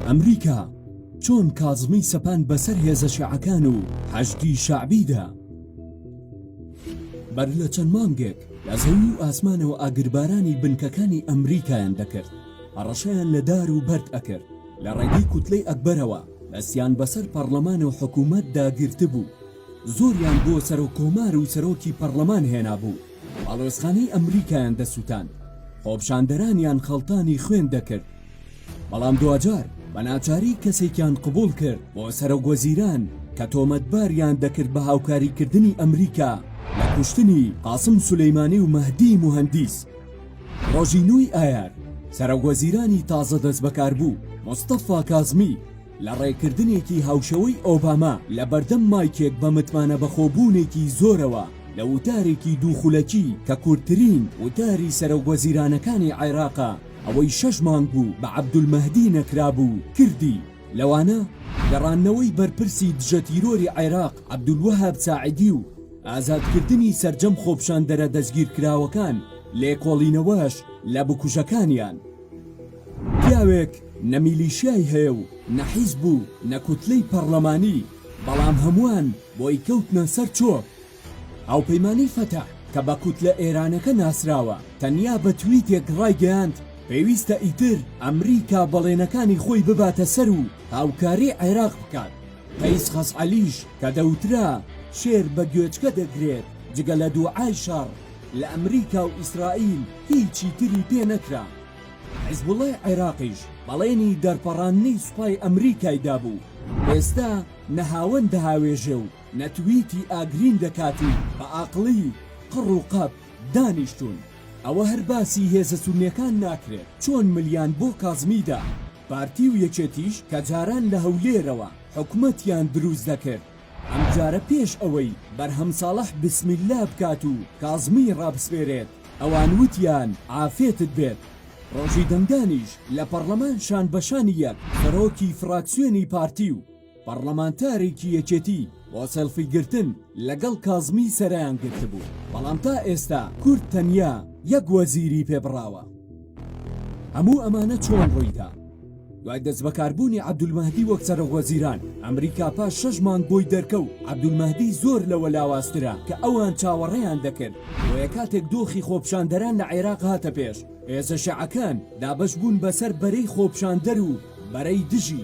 ئەمریکا چۆن کازمی سەپان بەسەر هێزە شیعەکان و حەشدی شەعبیدا؟ بەر لە چەند مانگێک لە زەوی و ئاسمانەوە ئاگربارانی بنکەکانی ئەمریکایان دەکرد هەڕەشەیان لە دار و بەرد ئەکرد لە ڕێگەی کوتلەی ئەکبەرەوە دەستیان بەسەر پەرلەمان و حکوومەت داگرتبوو زۆریان بۆ سەرۆک کۆمار و سەرۆکی پەڕڵەمان هێنابوو، باڵوێزخانەی ئەمریکایان دەسوتاند، خۆپشاندەرانیان خەڵتانی خوێن دەکرد، بەڵام دواجار بە ناچاری کەسێکیان قبوڵ کرد بۆ سەرۆک وەزیران کە تۆمەتباریان دەکرد بە هاوکاریکردنی ئەمریکا لە کوشتنی قاسم سولەیمانی و مەهدی موهەندیس. ڕۆژی نۆی ئایار سەرۆک وەزیرانی تازە دەستبەکاربوو، مستەفا کازمی، لە ڕێکردنێکی هاوشێوەی ئۆباما لە بەردەم مایکێک بە متمانە بەخۆبوونێکی زۆرەوە لە وتارێکی دوو خولەکی کە کورتترین وتاری سەرۆکوەزیرانەکانی عێراقە ئەوەی شەش مانگ بوو بە عەبدولمەهدی نەکرابوو کردی لەوانە گەڕاندنەوەی بەرپرسی دژە تیرۆری عێراق عەبدولوەهاب ساعدی و ئازادکردنی سەرجەم خۆپشاندەرە دەستگیرکراوەکان لێکۆڵینەوەش لە بکوژەکانیان پیاوێک نە میلیشیای هەیە و نە حیزب و نە کوتلەی پەڕلەمانی بەڵام هەموان بۆی کەوتنە سەر چۆک. هاوپەیمانی فەتح کە بە کوتلە ئێرانەکە ناسراوە تەنیا بە تویتێک ڕایگەیاند پێویستە ئیتر ئەمریکا بەڵێنەکانی خۆی بباتە سەر و هاوکاری عێراق بکات. قەیس خەسعەلیش کە دەوترا شێر بە گوێچکە دەگرێت جگە لە دوعای شەڕ، لە ئەمریکا و ئیسرائیل هیچی تری پێ نەکرا. حیزبوڵڵای عێراقیش بەڵێنی دەرپەڕاندنی سوپای ئەمریکای دابوو. ئێستا نە هاوەن دەهاوێژێ و نە تویتی ئاگرین دەکات و بە ئاقڵی قڕ و قەپ دانیشتوون. ئەوە هەر باسی هێزە سوننەکان ناکرێت چۆن ملیان بۆ کازمی دا. پارتی و یەکێتیش کە جاران لە هەولێرەوە حکومەتیان دروست دەکرد، ئەمجارە پێش ئەوەی بەرهەم ساڵح بسمیللا بکات و کازمیی ڕابسپێرێت، ئەوان وتیان عافێتت بێت. ڕۆژی دەنگدانیش لە پەڕڵەمان شان بە شانی یەک سەرۆکی فڕاکسیۆنی پارتی و پەڕڵەمانتارێکی یەکێتی بۆ سێڵفی گرتن لەگەڵ کازمی سەرەیان گرتبوو، بەڵام تا ئێستا کورد تەنیا یەک وەزیری پێ بڕاوە. هەموو ئەمانە چۆن ڕوویدا؟ دوای دەستبەکاربوونی عەبدولمەهدی وەک سەرۆکوەزیران، ئەمریکا پاش شەش مانگ بۆی دەرکەوت عەبدولمەهدی زۆر لەوە لاوازترە کە ئەوان چاوەڕێیان دەکرد، بۆیە کاتێک دۆخی خۆپیشاندەران لە عێراق هاتە پێش، هێزە شیعەکان دابەشبوون بەسەر بەرەی خۆپیشاندەر و بەرەی دژی،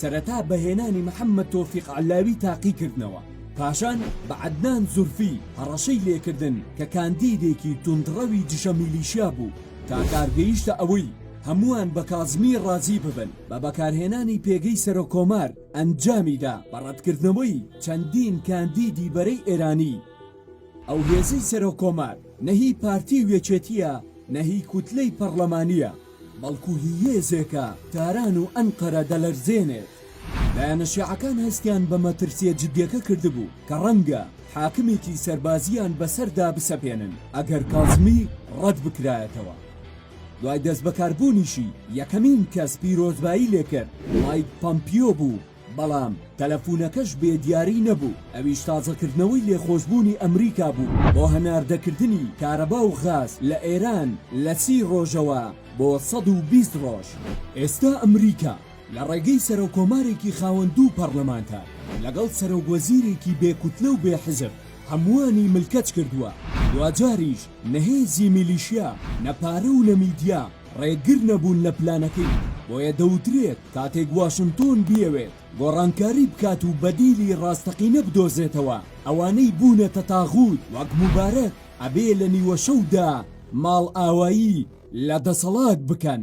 سەرەتا بە هێنانی محەممەد تۆفیق عەللاوی تاقی کردنەوە، پاشان بە عەدنان زورفی هەڕەشەی لێکردن کە کاندیدێکی توندڕەوی دژە میلیشیا بوو، تا کار گەیشتە ئەوەی هەمووان بە کازمی ڕازی ببن، بە بەکارهێنانی پێگەی سەرۆککۆمار ئەنجامی دا بە ڕەتکردنەوەی چەندین کاندیدی بەرەی ئێرانی. ئەو هێزەی سەرۆککۆمار نە هی پارتی و یەکێتییە نە هی کوتلەی پەڕڵەمانییە، بەڵکو هی هێزێکە تاران و ئەنقەرە دەلەرزێنێت. لایەنە شیعەکان هەستیان بە مەترسییە جدییەکە کردبوو کە ڕەنگە حاکمێکی سەربازییان بەسەردا بسەپێنن ئەگەر کازمی ڕەت بکرایەتەوە. دوای دەستبەکاربوونیشی، یەکەمین کەس پیرۆزبایی لێکرد مایک پامپیۆ بوو، بەڵام تەلەفونەکەش بێ دیاری نەبوو، ئەویش تازەکردنەوەی لێخۆشبوونی ئەمریکا بوو بۆ هەناردەکردنی کارەبا و غاز لە ئێران لە سی ڕۆژەوە بۆ سەد و بیست ڕۆژ. ئێستا ئەمریکا لە ڕێگەی سەرۆککۆمارێکی خاوەن دوو پەڕلەمانتە لەگەڵ سەرۆکوەزیرێکی بێ کوتلە و بێ حزب هەمووانی ملکەچ کردووە، دواجاریش نە هێزی میلیشیا، نە پارە و نە میدیا ڕێگر نەبوون لە پلانەکەی، بۆیە دەوترێت کاتێک واشنتۆن بیەوێت گۆڕانکاری بکات و بەدیلی ڕاستەقینە بدۆزێتەوە، ئەوانەی بوونەتە تاغووت وەک موبارەک ئەبێ لە نیوەشەودا ماڵئاوایی لە دەسەڵات بکەن.